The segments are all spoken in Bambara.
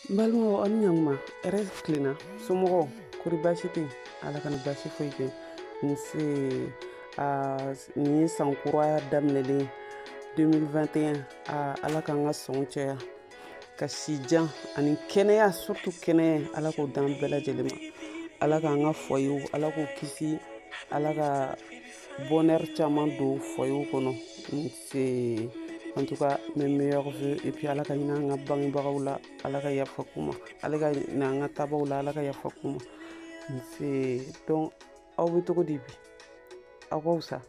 n balimaw aw ni ɲakuma hɛrɛ tilenna somɔgɔw kori baasi tɛ ala kana baasi foyi kɛ nse nin ye san kura daminɛlen 2021 ala k'an ka sɔn caya ka si jan ani kɛnɛya surtout kɛnɛya ala k'o d'an bɛɛ lajɛlen ma ala k'an ka foyerw ala k'o kisi ala ka bonheur caman don foyerw kɔnɔ nse en tout cas mes meilleurs vœux et puis ala ka hinɛ an ka bangebagaw la ala ka yafa k'u ma ala ka hinɛ an ka taabaaw la ala ka yafa k'u ma nse donc aw bɛ cogo di bi aw ka fisa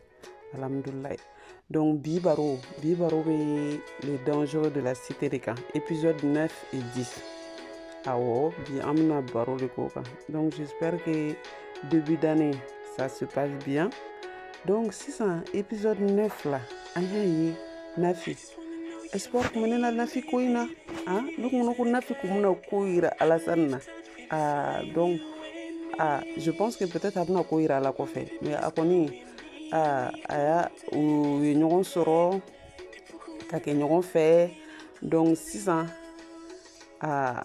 alhamdulilayi donc bi baro bi baro bɛ les dangereux de la cité de kan épisode 9 et 10 awɔ bi an bɛna baro de k'o kan donc j'espère que début d'année ça se passe bien donc sisan épisode 9 la an y'a ye nafi espoir kun bɛ ne na nafi ko in na ah ne kun ko nafi kun bɛna ko yira alasani na ah donc ah je pense que peut-être a bɛna ko yira a la kɔfɛ mais a kɔni ah a y'a u ye ɲɔgɔn sɔrɔ ka kɛ ɲɔgɔn fɛ donc sisan ah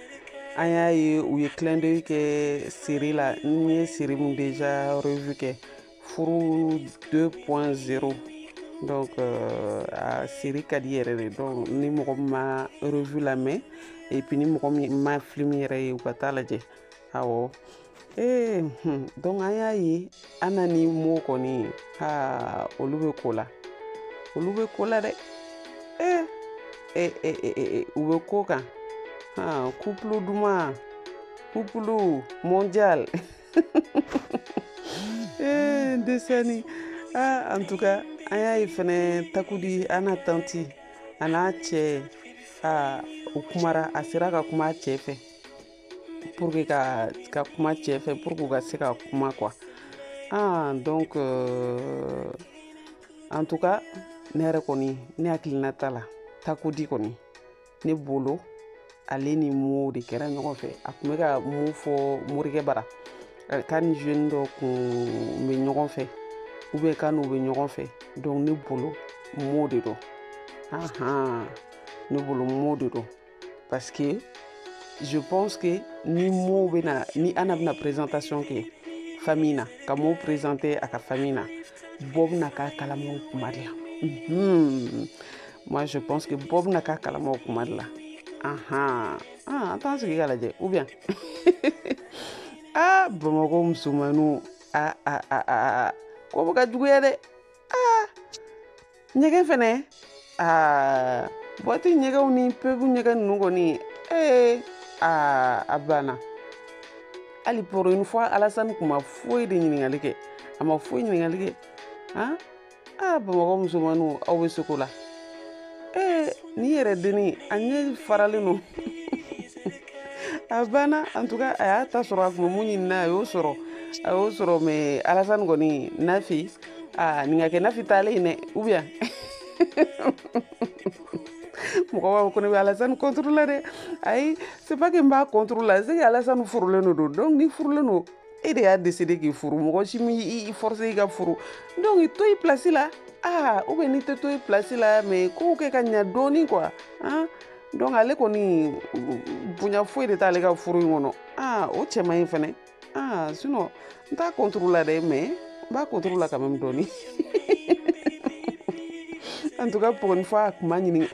an y'a ye u ye clin d'œil kɛ série la n ye série min déjà revue kɛ furu 2.0 donc euh, a série ka di yɛrɛ de donc ni mɔgɔ min ma revue lamɛn et puis ni mɔgɔ min ma film yɛrɛ ye u ka taa lajɛ awɔ ee hun donc an y'a ye anna ni mo kɔni ha olu bɛ ko la olu bɛ ko la dɛ ee e e e e u bɛ ko kan ha couple duman couple mondial ee n desɛni ah en tout cas an y'a ye fɛnɛ takudi anna tanti a n'a cɛ ah u kumara a sera ka kuma a cɛ fɛ pour que ka ka kuma cɛ fɛ pour que u ka se ka kuma quoi ah donc euh, en tout cas ne yɛrɛ kɔni ne hakilina ta la takodi kɔni ne bolo ale ni mo de kɛra ɲɔgɔn fɛ a kun bɛ ka min fɔ morikɛ bara k'a ni jeune dɔ kun bɛ ɲɔgɔn fɛ ou bien k'a n'u bɛ ɲɔgɔn fɛ donc ne bolo mo de don ahan ne bolo mo de don parce que je pense que ni Mo bɛ na ni Anna bɛna présentation kɛ famille na ka Mo présenter a ka famille na bɔ bɛna k'a kalama o kuma de la mhm. moi je pense que bɔ bɛna k'a kalama o kuma de la ahan ah, an t'an sigi ka lajɛ ou bien ah Bamakɔ musomanninw ah ah ah ah ko bɛ ka juguya dɛ ah. ɲɛgɛn fɛnɛ aa boîte ɲɛgɛnw ni pub ɲɛgɛn ninnu kɔni ee aa a banna hali pour une fois alasani kun ma foyi de ɲininkali kɛ a ma foyi ɲininkali kɛ han aa bamakɔ musomanninw aw bɛ seko la ee n'i yɛrɛ denni a ɲɛ faralen don a banna en tout cas a y'a ta sɔrɔ a kun bɛ mun ɲinina a y'o sɔrɔ a y'o sɔrɔ mais alasani kɔni nafi aa nin ka kɛ nafi taalen ye dɛ ou bien mɔgɔ b'a fɔ ko ne bɛ alasani contre la dɛ ayi c'est pas que n b'a contre la c'est que alasani furulen de don donc n'i furulen don e de y'a décidé k'i furu mɔgɔ si m'i forcer i ka furu donc i to i place la aa ou bien n'i tɛ to i place la mais kow kɛ ka ɲa dɔɔni quoi han donc ale kɔni bonya foyi de t'ale ka furu in kɔnɔ aa o cɛ man ɲi fɛnɛ aa sinon n t'a contre la dɛ mais n b'a contre la quand même dɔɔni en tout cas pour une fois a kun ma ɲini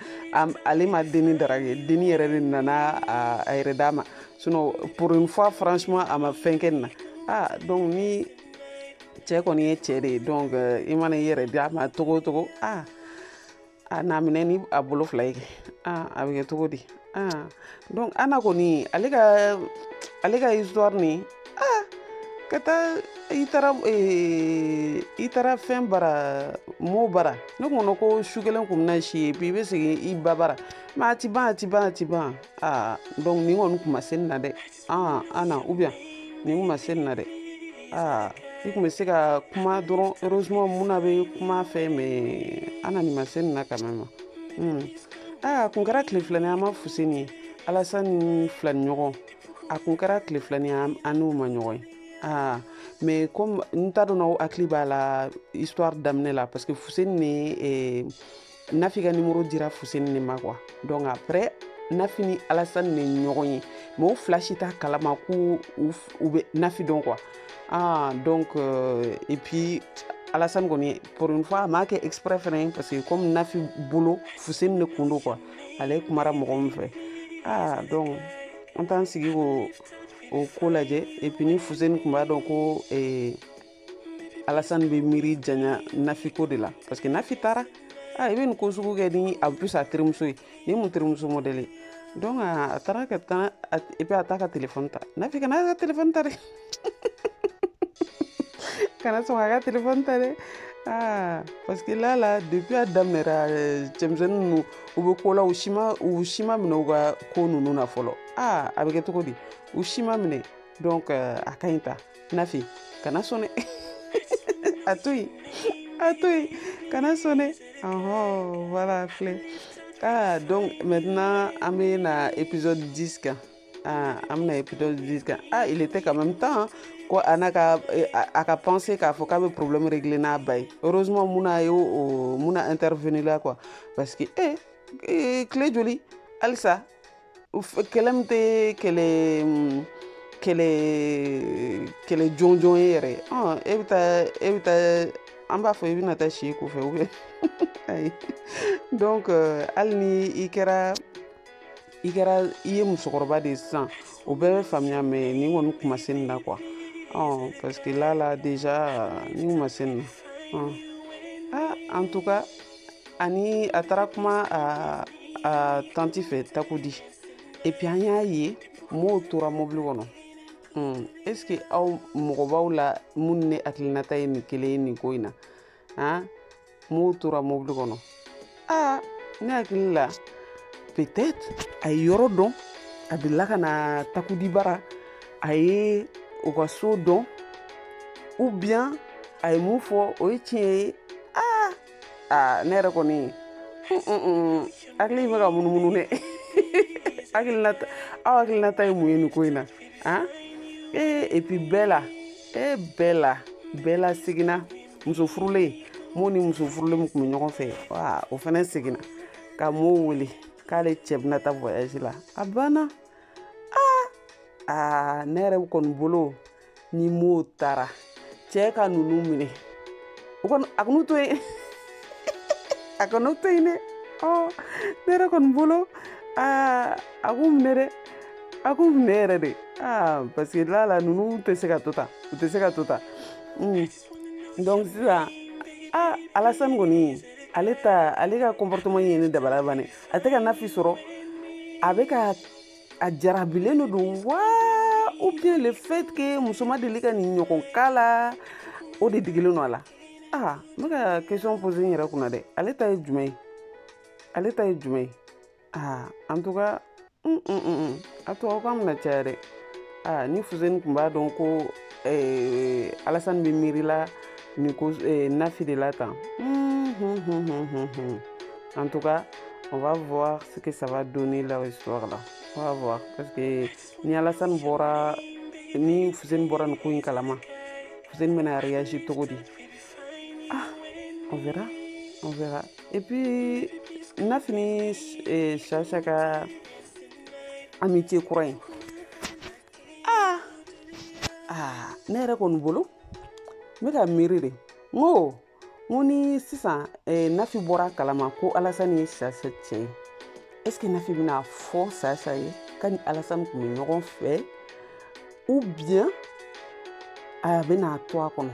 ale ma denni draguer denni yɛrɛ de nana a yɛrɛ d'a ma sinon pour une fois franchement a ma fɛn kɛ nin na aa donc ni cɛ kɔni ye cɛ de ye donc i mana i yɛrɛ d'a ma cogo o cogo aa a n'a minɛ ni a bolo fila ye kɛ a bɛ kɛ cogo di donc ana kɔni ale ka ale ka histoire ni ah ka taa i taara eh, i taara fɛn bara mo bara ne kɔnɔ ko su kelen kun bɛna si ye puis i bɛ segin i ba bara mais a ti ban a ti ban a ti ban aa donc nin kɔni kun ma se nin na dɛ aa ana ou bien nin kun ma se nin na dɛ aa i kun bɛ se ka kuma dɔrɔn heureusement mun na bɛ kuma fɛ mais ana nin ma se nin na quand même hmm. a kun kɛra tile filani an ma fuseni ye alasani ni filani ɲɔgɔn a kun kɛra tile filani an n'u ma ɲɔgɔn ye Ah, mais comme n t'a dɔn n'aw hakili b'a la histoire daminɛ la parce que fuseni ni eh, nafi ka numéro dira fuseni ne ma quoi donc après nafi ni alasani ne ɲɔgɔn ye mais u fila si t'a kalama ko u bɛ nafi dɔn quoi ah donc euh, et puis alasani kɔni pour une fois a m'a kɛ exprès fɛnɛ parce que comme nafi bolo fuseni ne kun don quoi ale kumara mɔgɔ min fɛ ah donc an t'an sigi k'o ko lajɛ et puis ni fuseni kun b'a dɔn ko eh, alasan bɛ miiri janya nafi ko de la parce que nafi taara a i bɛ nin ko sugu kɛ en plus a terimuso ye ni mun terimuso modèle ye donc a taara ka taa et puis a t'a ka telefɔni ta nafi kana a ka telefɔni ta dɛ kana sɔn a ka telefɔni ta dɛ Ah, parce que là, là, depuis a daminɛra euh, cɛmisɛnnin ninnu u bɛ ko la u si ma u si ma minɛ u ka ko ninnu na fɔlɔ aa a bɛ kɛ cogo di u si ma minɛ donc euh, a ka ɲi ta nafi kana sɔn dɛ a to yen a to yen kana sɔn dɛ ɔhɔn voilà filɛ ah donc maintenant an bɛ na épisode 10 kan ah an bɛna épisode 10 kan ah il était quand même temps ko a n'a ka eh, a a ka penser k'a fɔ k'a bɛ problème régler n'a ba ye heureusement muna a ye o muna intervenir la quoi parce que eh eh, tile joli halisa kɛlɛ min tɛ kɛlɛ kɛlɛ kɛlɛ jɔnjɔn ye yɛrɛ e bɛ taa e bɛ taa an b'a fɔ i bɛna taa si ko fɛ ou bien ayi donc euh, hali ni i kɛra i kɛra i ye musokɔrɔba de ye sisan o bɛɛ bɛ faamuya mais ni kɔni kuma se nin na quoi ɔ parce que là là déjà ni kuma se nin na ɔ ah en tout cas ani a taara kuma a a tanti fɛ takudi et puis an y'a ye mo tora mɔbili kɔnɔ hmm, est ce que aw mɔgɔ b'aw la minnu ne hakilinata ye nin kelen ye nin ko in na han mo tora mɔbili kɔnɔ aa ne hakili la peut être a ye yɔrɔ dɔn a delila ka na takudi bara a ye u ka so dɔn ou bien a ye mun fɔ o ye tiɲɛ ye aa ne yɛrɛ kɔni hakili bɛ ka munumunu dɛ hakilinata aw hakilinata ye mun ye nin ko in na an ee et puis bɛɛ la ee bɛɛ la bɛɛ la seginna muso furulen mo ni muso furulen min tun bɛ ɲɔgɔn fɛ wa o fana seginna ka mo wele k'ale cɛ bɛna taa voyage la a banna aa aa ne yɛrɛ kɔni bolo ni mo taara cɛ ka ninnu minɛ o kɔni a kan'u to yen a kan'u to yen dɛ ɔ ne yɛrɛ kɔni bolo aa a k'u minɛ dɛ a k'u minɛ yɛrɛ de aa parce que là là ninnu tɛ se ka to tan u tɛ se ka to tan donc sisan aa alasani kɔni ale ta ale ka comportement ye ne dabali ban ɛ a tɛ ka nafi sɔrɔ a bɛ ka a jarabilen de don wa ou bien le fait que muso ma deli ka nin ɲɔgɔn k'a la o de digilen don a la aa n bɛ ka question poser n yɛrɛ kunna dɛ ale ta ye jumɛn ye ale ta ye jumɛn ye aa en tout cas a tubabukan bɛna caya dɛ aa ni fuseni tun b'a dɔn ko alasani bɛ miirila nin ko nafi de la tan en tout cas on va voir ce que ça va donner leur histoire là on va voir parce que ni alasani bɔra ni fuseni bɔra nin ko in kalama fuseni bɛna réagir cogo di ah on verra on verra et puis nafi ni chacha ka amitié kura in aa aa ne yɛrɛ kɔni bolo n bɛ ka miiri de n ko n ko ni sisan eh, nafi bɔra kalama ko alasani ye sasa cɛ ye est ce que nafi bɛna fɔ sasa ye k'a ni alasani tun bɛ ɲɔgɔn fɛ ou bien a bɛna to a kɔnɔ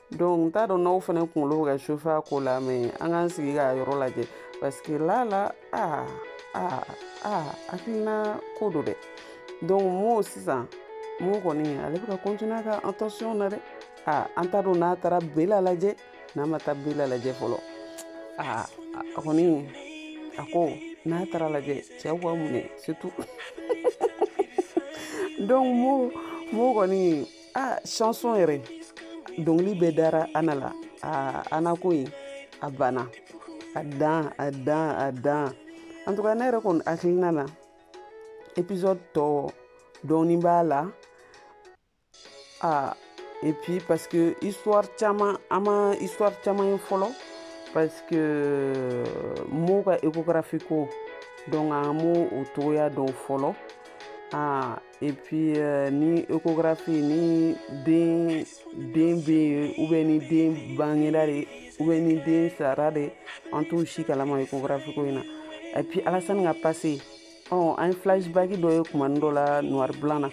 donc n t'a dɔn n'aw fana kunkolo bɛ ka chauffer a ko la mais an k'an sigi k'a yɔrɔ lajɛ parce que là là aa aa aa hakilina ko don dɛ donc mo sisan mo kɔni ale bɛ ka continuer a ka attention na dɛ aa an t'a dɔn n'a taara bela lajɛ n'a ma taa bela lajɛ fɔlɔ aa a kɔni a ko n'a taara lajɛ cɛw k'a minɛ surtout donc mo mo kɔni ah chanson yɛrɛ dɔnkili bɛɛ dara ana la ah ana ko in a banna a dan a dan a dan en tout cas ne yɛrɛ kɔni hakilina na épisode tɔ dɔɔni b'a la ah et puis parce que histoire caman an ma histoire caman ye fɔlɔ parce que mo ka échographie ko donc an m'o o cogoya dɔn fɔlɔ ah et puis euh, ni échographie ni den den bɛ yen ou bien ni den bangera de ou bien ni den sara de an t'o si kalama échographie ko in na et puis alasani ka passé ɔ oh, an ye flashback dɔ ye kumanin dɔ la noir blanc na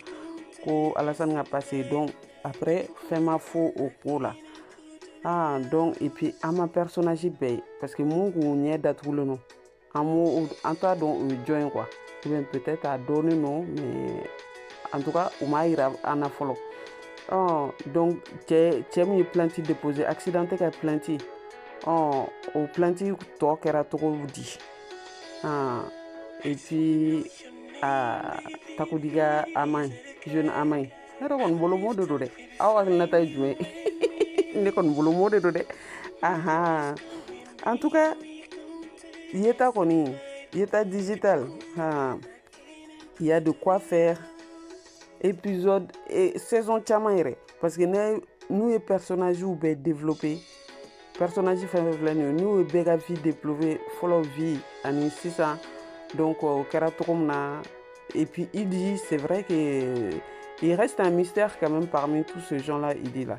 ko alasani ka passé donc après fɛn ma fɔ o ko la ah donc et puis an ma personnage bɛɛ ye parce que mun kun ɲɛ datugulen don an b'o an t'a dɔn o ye jɔn ye quoi ou bien peut-être a dɔnnen don mais en tout cas u m'a yira an na fɔlɔ ɔ donc cɛ cɛ min ye plainte déposer accidenté ka plainte ɔ o plainte tɔ kɛra cogo di ah, et puis a takudiga ama ye jeune ama ye ne yɛrɛ kɔni bolo mo de do dɛ aw hakilinata ye jumɛn ne kɔni bolo mo de do dɛ ahan en tout cas yeta kɔni yeta digital ha il y a de quoi faire épisode et saison caman yɛrɛ parce que ne n'u ye personnage bɛɛ développer personnage fɛn fɛn filɛ nin ye n'u ye bɛɛ ka vie développer fɔlɔ vie ani sisan donc o kɛra cogo min na et puis idi c'est vrai que il reste un mystère quand même parmi tous ces gens là idi là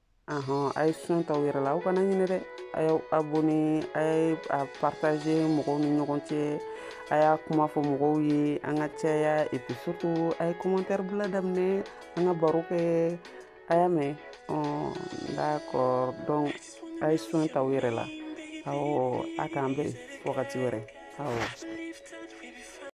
ahɔn a ye soin ta aw yɛrɛ la aw kana ɲinɛ dɛ a y'aw abonné a ye a partager mɔgɔw ni ɲɔgɔn cɛ a y'a kuma fɔ mɔgɔw ye an ka caya et puis surtout a ye commentaire bila daminɛ an ka baro kɛ a y'a mɛn d'accord donc a ye soin ta aw yɛrɛ la awɔ a k'an bɛn wagati wɛrɛ awɔ